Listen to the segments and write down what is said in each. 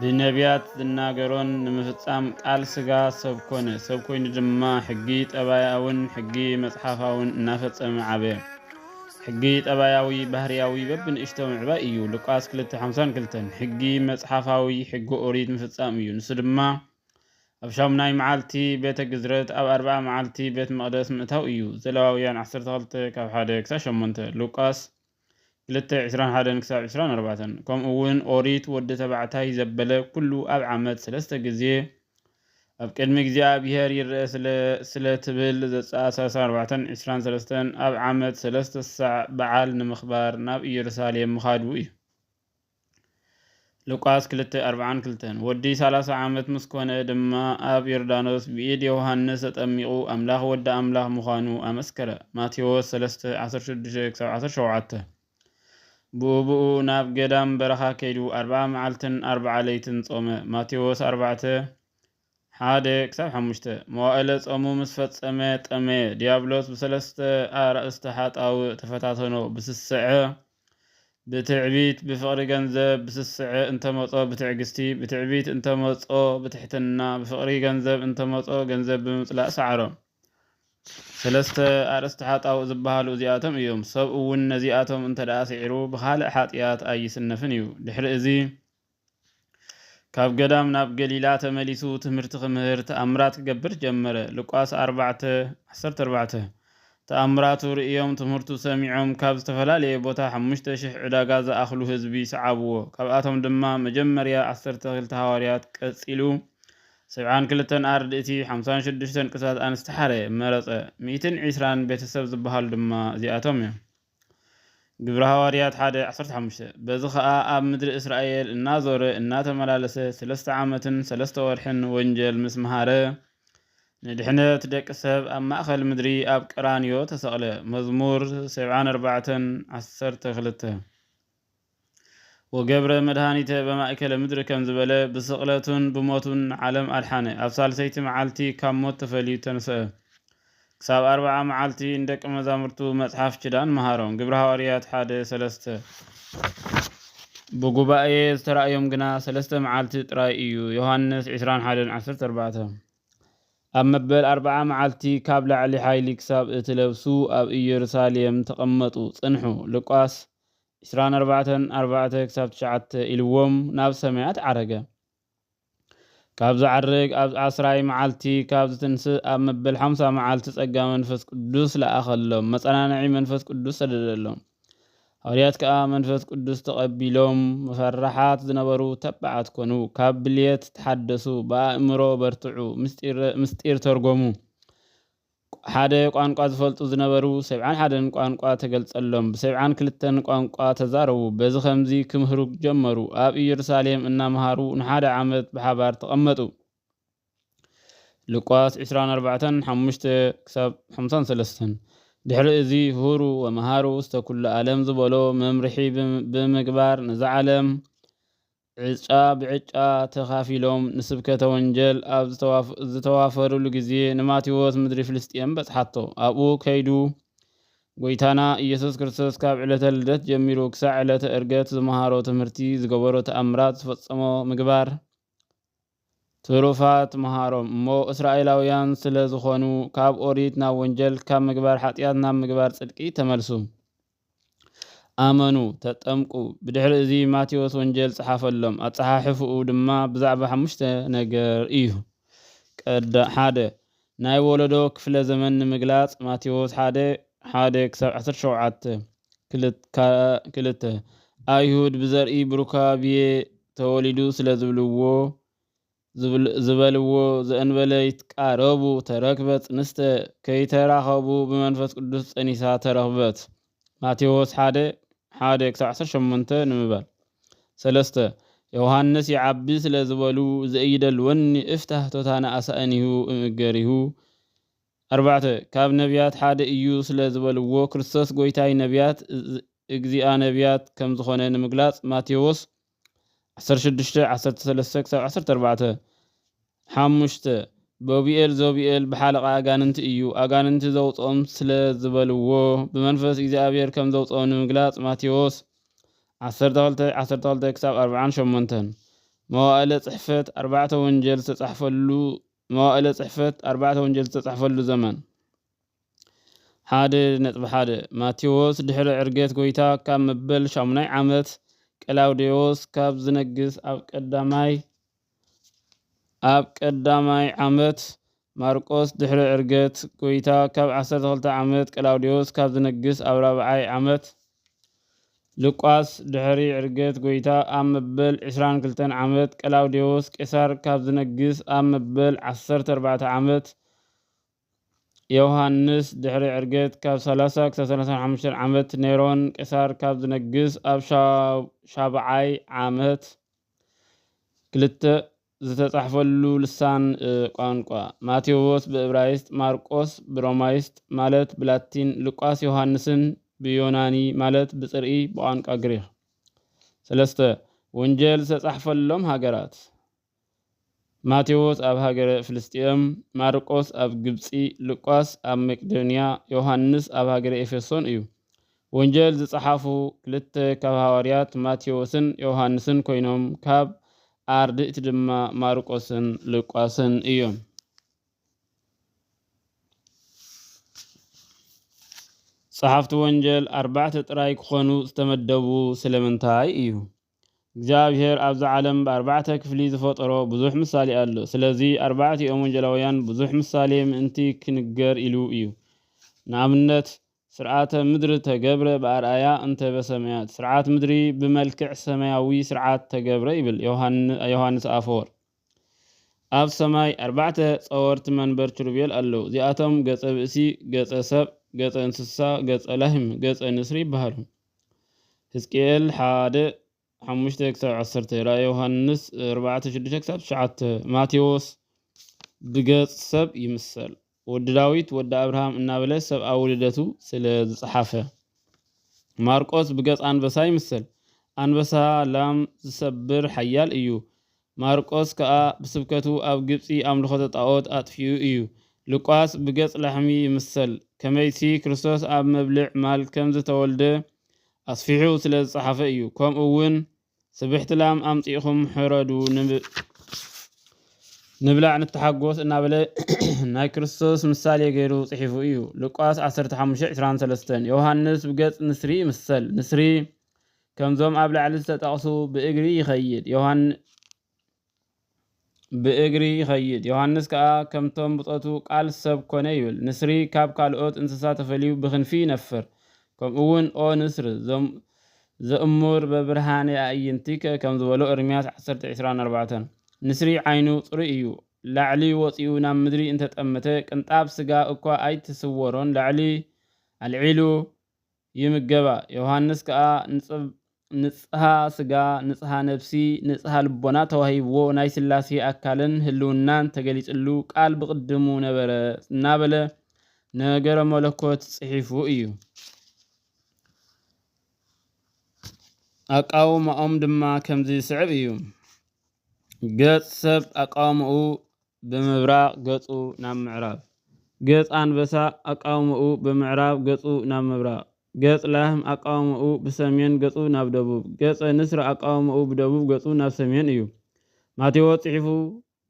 ብነብያት ዝናገሮን ንምፍጻም ቃል ስጋ ሰብ ኮነ። ሰብ ኮይኑ ድማ ሕጊ ጠባያኣውን ሕጊ መጽሓፋውን እናፈጸመ ዓበየ። ሕጊ ጠባያዊ ባህርያዊ በብንእሽቶ ምዕባይ እዩ፣ ሉቃስ ክልተ ሓምሳን ክልተን። ሕጊ መጽሓፋዊ ሕጊ ኦሪት ምፍጻም እዩ፣ ንሱ ድማ ኣብ ሻሙናይ መዓልቲ ቤተ ግዝረት ኣብ ኣርብዓ መዓልቲ ቤት መቕደስ ምእታው እዩ፣ ዘለዋውያን ዓሰርተ ክልተ ካብ ሓደ ክሳብ ሸሞንተ፣ ሉቃስ። ክልተ ዕስራን ሓደን ክሳብ ዕስራን ኣርባዕተን፣ ከምኡውን ኦሪት ወዲ ተባዕታይ ዘበለ ኵሉ ኣብ ዓመት ሰለስተ ግዜ ኣብ ቅድሚ እግዚኣብሄር ይርኣ ስለ ስለ ትብል ዘጸኣሳሳ ኣርባዕተን ዕስራን ሰለስተን ኣብ ዓመት ሰለስተ ሳዕ በዓል ንምኽባር ናብ ኢየሩሳሌም ምኻዱ እዩ። ሉቃስ ክልተ ኣርብዓን ክልተን ወዲ ሰላሳ ዓመት ምስ ኮነ ድማ ኣብ ዮርዳኖስ ብኢድ ዮሃንስ ተጠሚቑ ኣምላኽ ወዲ ኣምላኽ ምዃኑ ኣመስከረ ማቴዎስ ሰለስተ ዓሰርተ ሽዱሽተ ክሳብ ዓሰርተ ሸውዓተ ብኡብኡ ናብ ገዳም በረኻ ከይዱ ኣርብዓ መዓልትን ኣርብዓ ለይትን ጾመ ማቴዎስ ኣርባዕተ ሓደ ክሳብ ሓሙሽተ። መዋእለ ጾሙ ምስ ፈጸመ ጠመየ፣ ድያብሎስ ብሰለስተ ኣርእስተ ሓጣውእ ተፈታተኖ፣ ብስስዐ፣ ብትዕቢት፣ ብፍቕሪ ገንዘብ፣ ብስስዐ እንተ መጾ ብትዕግስቲ፣ ብትዕቢት እንተ መጾ ብትሕትና፣ ብፍቕሪ ገንዘብ እንተ መጾ ገንዘብ ብምጽላእ ሰዓሮ። ሰለስተ ኣርእስተ ሓጣውእ ዝበሃሉ እዚኣቶም እዮም። ሰብ እውን ነዚኣቶም እንተደኣ ስዒሩ ብኻልእ ሓጥያት ኣይስነፍን እዩ። ድሕሪ እዚ። ካብ ገዳም ናብ ገሊላ ተመሊሱ ትምህርቲ ክምህር ተኣምራት ክገብር ጀመረ። ሉቃስ ኣርባዕተ፣ ዓሰርተ ኣርባዕተ ተኣምራቱ ርእዮም ትምህርቱ ሰሚዖም ካብ ዝተፈላለየ ቦታ ሓሙሽተ ሽሕ ዕዳጋ ዝኣኽሉ ህዝቢ ሰዓብዎ። ካብኣቶም ድማ መጀመርያ ዓሰርተ ክልተ ሃዋርያት ቀጺሉ ሰብዓን ክልተን ኣርድእቲ ሓምሳን ሽዱሽተን ቅትላት ኣንስቲ ሓረ፣ መረጸ። ሚእትን ዒስራን ቤተሰብ ዝበሃሉ ድማ እዚኣቶም እዮም። ግብሪ ሃዋርያት ሓደ ዓሰርተ ሓሙሽተ በዚ ኸኣ ኣብ ምድሪ እስራኤል እናዞረ እናተመላለሰ ስለስተ ዓመትን ሰለስተ ወርሕን ወንጀል ምስ መሃረ ንድሕነት ደቂ ሰብ ኣብ ማእከል ምድሪ ኣብ ቀራንዮ ተሰቕለ። መዝሙር ሰብዓን ኣርባዕተን ዓሰርተ ክልተ። ወገብረ መድኃኒተ በማእከለ ምድር ከም ዝበለ ብስቕለቱን ብሞቱን ዓለም ኣድሓነ። ኣብ ሣልሰይቲ መዓልቲ ካብ ሞት ተፈልዩ ተንሥአ። ክሳብ ኣርብዓ መዓልቲ ንደቂ መዛሙርቱ መጽሓፍ ኪዳን መሃሮም፣ ግብሪ ሃዋርያት ሓደ ሰለስተ። ብጉባኤ ዝተራእዮም ግና ሰለስተ መዓልቲ ጥራይ እዩ፣ ዮሓንስ ዕስራን ሓደን ዓሰርተ ኣርባዕተ። ኣብ መበል ኣርብዓ መዓልቲ ካብ ላዕሊ ሓይሊ ክሳብ እትለብሱ ኣብ ኢየሩሳሌም ተቐመጡ ጽንሑ፣ ሉቃስ ዕስራን ኣርባዕተን፣ ኣርባዕተ ክሳብ ትሽዓተ፣ ኢልዎም ናብ ሰማያት ዓረገ። ካብ ዝዓርግ ኣብ ዓስራይ መዓልቲ ካብ ዝትንስእ ኣብ መበል ሓምሳ መዓልቲ ጸጋ መንፈስ ቅዱስ ለኣኸሎም፣ መጸናንዒ መንፈስ ቅዱስ ሰደደሎም። ሃዋርያት ከኣ መንፈስ ቅዱስ ተቐቢሎም ፈራሓት ዝነበሩ ተባዓት ኮኑ፣ ካብ ብልየት ተሓደሱ፣ ብኣእምሮ በርትዑ፣ ምስጢር ተርጎሙ፣ ሓደ ቋንቋ ዝፈልጡ ዝነበሩ ሰብዓን ሓደን ቋንቋ ተገልጸሎም ብሰብዓን ክልተን ቋንቋ ተዛረቡ በዚ ከምዚ ክምህሩ ጀመሩ ኣብ ኢየሩሳሌም እናመሃሩ ንሓደ ዓመት ብሓባር ተቐመጡ ሉቃስ ዕስራን ኣርባዕተን ሓሙሽተ ክሳብ ሓምሳን ሰለስተን ድሕሪ እዚ ሁሩ ወመሃሩ ውስተ ኩሉ ዓለም ዝበሎ መምርሒ ብምግባር ነዛ ዓለም ዕጫ ብዕጫ ተኻፊሎም ንስብከተ ወንጀል ኣብ ዝተዋፈርሉ ግዜ ንማቴዎስ ምድሪ ፍልስጥኤም በጽሓቶ። ኣብኡ ከይዱ ጎይታና ኢየሱስ ክርስቶስ ካብ ዕለተ ልደት ጀሚሩ ክሳዕ ዕለተ እርገት ዝመሃሮ ትምህርቲ፣ ዝገበሮ ተኣምራት፣ ዝፈጸሞ ምግባር፣ ትሩፋት ምሃሮም እሞ እስራኤላውያን ስለ ዝኾኑ ካብ ኦሪት ናብ ወንጀል ካብ ምግባር ሓጢኣት ናብ ምግባር ጽድቂ ተመልሱ ኣመኑ ተጠምቁ ብድሕሪ እዚ ማቴዎስ ወንጀል ጽሓፈሎም ኣጸሓሕፍኡ ድማ ብዛዕባ ሓሙሽተ ነገር እዩ ቀዳ ሓደ ናይ ወለዶ ክፍለ ዘመን ንምግላጽ ማቴዎስ ሓደ፣ ሓደ ክሳብ ዓሰርተ ሸውዓተ፣ ክልት፣ ካኣ ክልተ፣ ኣይሁድ ብዘርኢ ብሩካቤ ተወሊዱ ስለ ዝብልዎ፣ ዝብል፣ ዝበልዎ ዘእንበለ ይትቃረቡ ተረክበ ጽንስተ፣ ከይተራኸቡ ብመንፈስ ቅዱስ ጸኒሳ ተረኽበት፣ ማቴዎስ ሓደ፣ ሓደ ክሳብ ዓሰርተ ሸሞንተ፣ ንምባል። ሰለስተ፣ ዮውሃንስ ይዓቢ ስለ ዝበሉ ዘኢይደል ወኒ እፍታህ ቶታነ ኣሳእኒሁ እምእገሪሁ። ኣርባዕተ፣ ካብ ነብያት ሓደ እዩ ስለ ዝበልዎ ክርስቶስ ጎይታይ ነብያት እእግዚኣ ነብያት ከም ዝኾነ ንምግላጽ ማቴዎስ ዓሰርተ ሽዱሽተ፣ ዓሰርተ ሰለስተ ክሳብ ዓሰርተ ኣርባዕተ፣ ሓሙሽተ፣ ቡብኤል ዞብኤል ብሓለቓ ኣጋንንቲ እዩ፣ ኣጋንንቲ ዘውጽኦም ስለ ዝበልዎ፣ ብመንፈስ እግዚኣብሄር ከም ዘውጽኦም ንምግላጽ ማቴዎስ ዓሰርተ ክልተ፣ ዓሰርተ ክልተ ክሳብ ኣርብዓን ሸሞንተን፣ መዋእለ ጽሕፈት ኣርባዕተ ወንጀል ዝተጻሕፈሉ መዋእለ ጽሕፈት ኣርባዕተ ወንጀል ዝተጻሕፈሉ ዘመን። ሓደ ነጥቢ ሓደ፣ ማቴዎስ ድሕሪ ዕርገት ጎይታ ካብ መበል ሻሙናይ ዓመት ቀላውዴዎስ ካብ ዝነግስ ኣብ ቀዳማይ ኣብ ቀዳማይ ዓመት ማርቆስ ድሕሪ ዕርገት ጎይታ ካብ ዓሰርተ ክልተ ዓመት ቀላውዴዎስ ካብ ዝነግስ ኣብ ራብዓይ ዓመት ልቋስ ድሕሪ ዕርገት ጎይታ ኣብ መበል ዕስራን ክልተን ዓመት ቀላውዴዎስ ቄሳር ካብ ዝነግስ ኣብ መበል ዓሰርተ ኣርባዕተ ዓመት ዮውሃንስ ድሕሪ ዕርገት ካብ ሰላሳ ክሳብ ሰላሳን ሓሙሽተን ዓመት ኔሮን ቄሳር ካብ ዝነግስ ኣብ ሻብዓይ ዓመት ክልተ ዝተጻሕፈሉ ልሳን ቋንቋ ማቴዎስ ብእብራይስጥ ማርቆስ ብሮማይስጥ ማለት ብላቲን ሉቃስ ዮውሃንስን ብዮናኒ ማለት ብጽርኢ ብቋንቋ ግሪኽ ሰለስተ ወንጀል ዝተጻሕፈሎም ሃገራት ማቴዎስ ኣብ ሃገረ ፍልስጥኤም፣ ማርቆስ ኣብ ግብጺ፣ ሉቃስ ኣብ መቄዶንያ፣ ዮሃንስ ኣብ ሃገረ ኤፌሶን እዩ። ወንጀል ዝጸሓፉ ክልተ ካብ ሃዋርያት ማቴዎስን ዮሃንስን ኮይኖም ካብ ኣርድእቲ ድማ ማርቆስን ሉቃስን እዮም። ጸሓፍቲ ወንጀል ኣርባዕተ ጥራይ ክኾኑ ዝተመደቡ ስለምንታይ እዩ? እግዚኣብሔር ኣብዛ ዓለም ብኣርባዕተ ክፍሊ ዝፈጠሮ ብዙሕ ምሳሌ ኣሎ። ስለዚ ኣርባዕቲኦም ወንጌላውያን ብዙሕ ምሳሌ ምእንቲ ክንገር ኢሉ እዩ። ንኣብነት ሥርዓተ ምድር ተገብረ ብኣርኣያ እንተ በሰማያት፣ ሥርዓት ምድሪ ብመልክዕ ሰማያዊ ሥርዓት ተገብረ ይብል ዮሐንስ ኣፈወርቅ። ኣብ ሰማይ ኣርባዕተ ጸወርቲ መንበር ኪሩቤል ኣለዉ፣ እዚኣቶም ገጸ ብእሲ፣ ገጸ ሰብ፣ ገጸ እንስሳ፣ ገጸ ላህም፣ ገጸ ንስሪ ይበሃሉ። ህዝቅኤል ሓደ፣ ሓሙሽተ ክሳብ ዓሰርተ፣ ራእይ ዮሃንስ ኣርባዕተ፣ ሽዱሽተ ክሳብ ትሽዓተ፣ ማቴዎስ ብገጽ ሰብ ይምሰል። ወዲ ዳዊት ወዲ ኣብርሃም እናበለ ሰብኣዊ ልደቱ ስለ ዝጸሓፈ። ማርቆስ ብገጽ ኣንበሳ ይምሰል። ኣንበሳ ላም ዝሰብር ሓያል እዩ። ማርቆስ ከኣ ብስብከቱ ኣብ ግብጺ ኣምልኾተ ጣኦት ኣጥፊኡ እዩ። ሉቃስ ብገጽ ላሕሚ ይምሰል። ከመይሲ ክርስቶስ ኣብ መብልዕ ማል ከም ዝተወልደ ኣስፊሑ ስለ ዝጸሓፈ እዩ። ከምኡውን። ስብሕቲ ላም ኣምጺእኹም ሕረዱ ንብላዕ ንተሓጎስ እናበለ ናይ ክርስቶስ ምሳሌ ገይሩ ጽሒፉ እዩ። ሉቃስ ዓሰርተ ሓሙሽተ ዕስራን ሰለስተን ዮሃንስ ብገጽ ንስሪ ይምሰል። ንስሪ ከምዞም ኣብ ላዕሊ ዝተጠቕሱ ብእግሪ ይኸይድ። ብእግሪ ይኸይድ። ዮሃንስ ከኣ ከምቶም ብጾቱ ቃል ሰብ ኮነ ይብል። ንስሪ ካብ ካልኦት እንስሳ ተፈልዩ ብክንፊ ይነፍር። ከምኡውን ኦ ንስር ዘእሙር በብርሃነ ኣዕይንቲከ ከም ዝበሎ እርምያስ ዓሰርተ ዕስራን ኣርባዕተን። ንስሪ ዓይኑ ጽሩይ እዩ። ላዕሊ ወጺኡ ናብ ምድሪ እንተጠመተ ቅንጣብ ስጋ እኳ ኣይትስወሮን ላዕሊ ኣልዒሉ ይምገባ። ዮሃንስ ከኣ ንጽብ ንጽሃ ስጋ ንጽሃ ነብሲ ንጽሃ ልቦና ተዋሂብዎ ናይ ሥላሴ ኣካልን ህልውናን ተገሊጽሉ ቃል ብቕድሙ ነበረ እናበለ ነገረ መለኮት ጽሒፉ እዩ። ኣቃውማኦም ድማ ከምዚ ዝስዕብ እዩ። ገጽ ሰብ ኣቃውማኡ ብምብራቕ ገጹ ናብ ምዕራብ። ገጽ ኣንበሳ ኣቃውማኡ ብምዕራብ ገጹ ናብ ምብራቕ። ገጽ ላህም ኣቃውማኡ ብሰሜን ገጹ ናብ ደቡብ። ገጸ ንስሪ ኣቃውማኡ ብደቡብ ገጹ ናብ ሰሜን እዩ። ማቴዎስ ጽሒፉ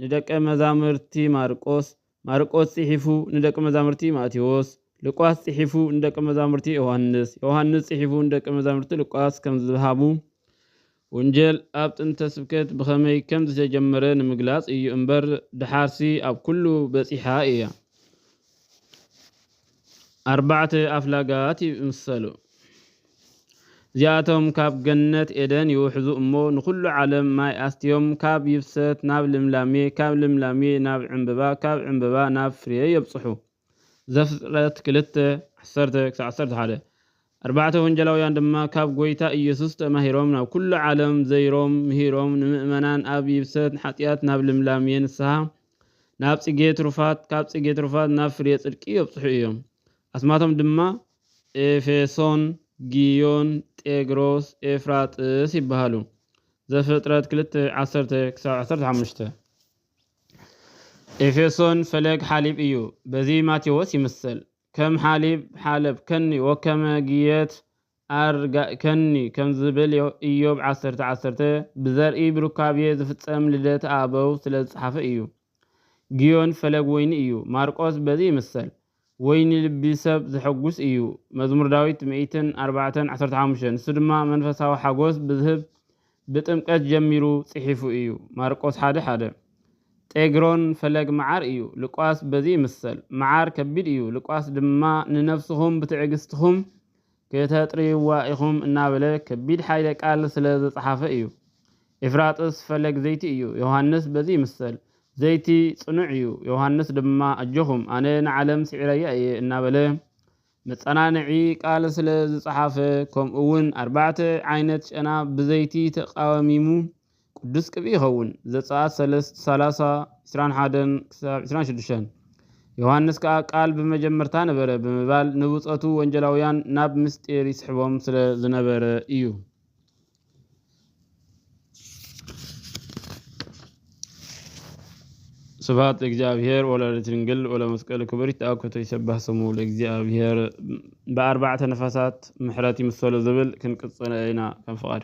ንደቀ መዛሙርቲ ማርቆስ፣ ማርቆስ ጽሒፉ ንደቀ መዛሙርቲ ማቴዎስ፣ ሉቃስ ጽሒፉ ንደቀ መዛሙርቲ ዮሃንስ፣ ዮሃንስ ጽሒፉ ንደቀ መዛሙርቲ ሉቃስ ከም ዝሃቡ ወንጀል ኣብ ጥንተ ስብከት ብኸመይ ከም ዝተጀመረ ንምግላጽ እዩ እምበር ደሓርሲ ኣብ ኩሉ በጺሓ እያ። ኣርባዕተ ኣፍላጋት ይምሰሉ። እዚኣቶም ካብ ገነት ኤደን ይውሕዙ እሞ ንኹሉ ዓለም ማይ ኣስትዮም ካብ ይብሰት ናብ ልምላሜ ካብ ልምላሜ ናብ ዕንበባ ካብ ዕንበባ ናብ ፍሬ የብጽሑ። ዘፍጥረት ክልተ፣ ዓሰርተ ክሳዕ ዓሰርተ ሓደ፣ ኣርባዕተ ወንጌላውያን ድማ ካብ ጐይታ ኢየሱስ ተማሂሮም ናብ ኵሉ ዓለም ዘይሮም ምሂሮም ንምእመናን ኣብ ይብሰት ሓጢኣት ናብ ልምላሜ ንስሓ ናብ ጽጌ ትሩፋት ካብ ጽጌ ትሩፋት ናብ ፍሬ ጽድቂ የብጽሑ እዮም። ኣስማቶም ድማ ኤፌሶን፣ ግዮን፣ ጤግሮስ፣ ኤፍራጥስ ይበሃሉ። ዘፍጥረት ክልተ፣ ዓሰርተ ክሳብ ዓሰርተ ሓሙሽተ። ኤፌሶን ፈለግ ሓሊብ እዩ በዚ ማቴዎስ ይምሰል ከም ሓሊብ ሓለብከኒ ወከመ ግየት ኣርጋእከኒ ከምዝብል ኢዮብ ዓሰርተ ዓሰርተ ብዘርኢ ብሩካቤ ዝፍጸም ልደት ኣበው ስለዝጸሓፈ እዩ። ግዮን ፈለግ ወይኒ እዩ ማርቆስ በዚ ይምሰል ወይ ንልቢ ሰብ ዘሐጕስ እዩ። መዝሙር ዳዊት ሚእትን ኣርባዕተን ዓሰርተ ሓሙሽተ ንሱ ድማ መንፈሳዊ ሓጐስ ብዝህብ ብጥምቀት ጀሚሩ ጽሒፉ እዩ፣ ማርቆስ ሓደ ሓደ። ጤግሮን ፈለግ መዓር እዩ፣ ሉቃስ በዚ ይምሰል። መዓር ከቢድ እዩ፣ ሉቃስ ድማ ንነፍስኹም ብትዕግስትኹም ክተጥርይዋ ኢኹም እናበለ ከቢድ ሓይለ ቃል ስለ ዘጽሓፈ እዩ። ኤፍራጥስ ፈለግ ዘይቲ እዩ፣ ዮሃንስ በዚ ይምሰል። ዘይቲ ጽኑዕ እዩ፣ ዮሃንስ ድማ ኣጆኹም ኣነ ንዓለም ስዒረያ እየ እናበለ መጸናንዒ ቃል ስለ ዝጸሓፈ ከምኡውን ኣርባዕተ ዓይነት ጨና ብዘይቲ ተቃሚሙ ቅዱስ ቅብኢ ይኸውን። ዘጸኣት ሰለስት፣ ሰላሳ፣ ዕስራን ሓደን ክሳብ ዕስራን ሽዱሽተን። ዮሃንስ ከኣ ቃል ብመጀመርታ ነበረ ብምባል ንብጾቱ ወንጀላውያን ናብ ምስጢር ይስሕቦም ስለ ዝነበረ እዩ። ስብሐት ለእግዚኣብሔር ወለወላዲቱ ድንግል ወለመስቀሉ ክቡር ይትአኮቶ ይሰባህ ስሙ ለእግዚኣብሔር ብኣርባዕተ ነፋሳት ምሕረት ይምሰሎ ዝብል ክንቅጽለ ኢና ከም ፍቓድ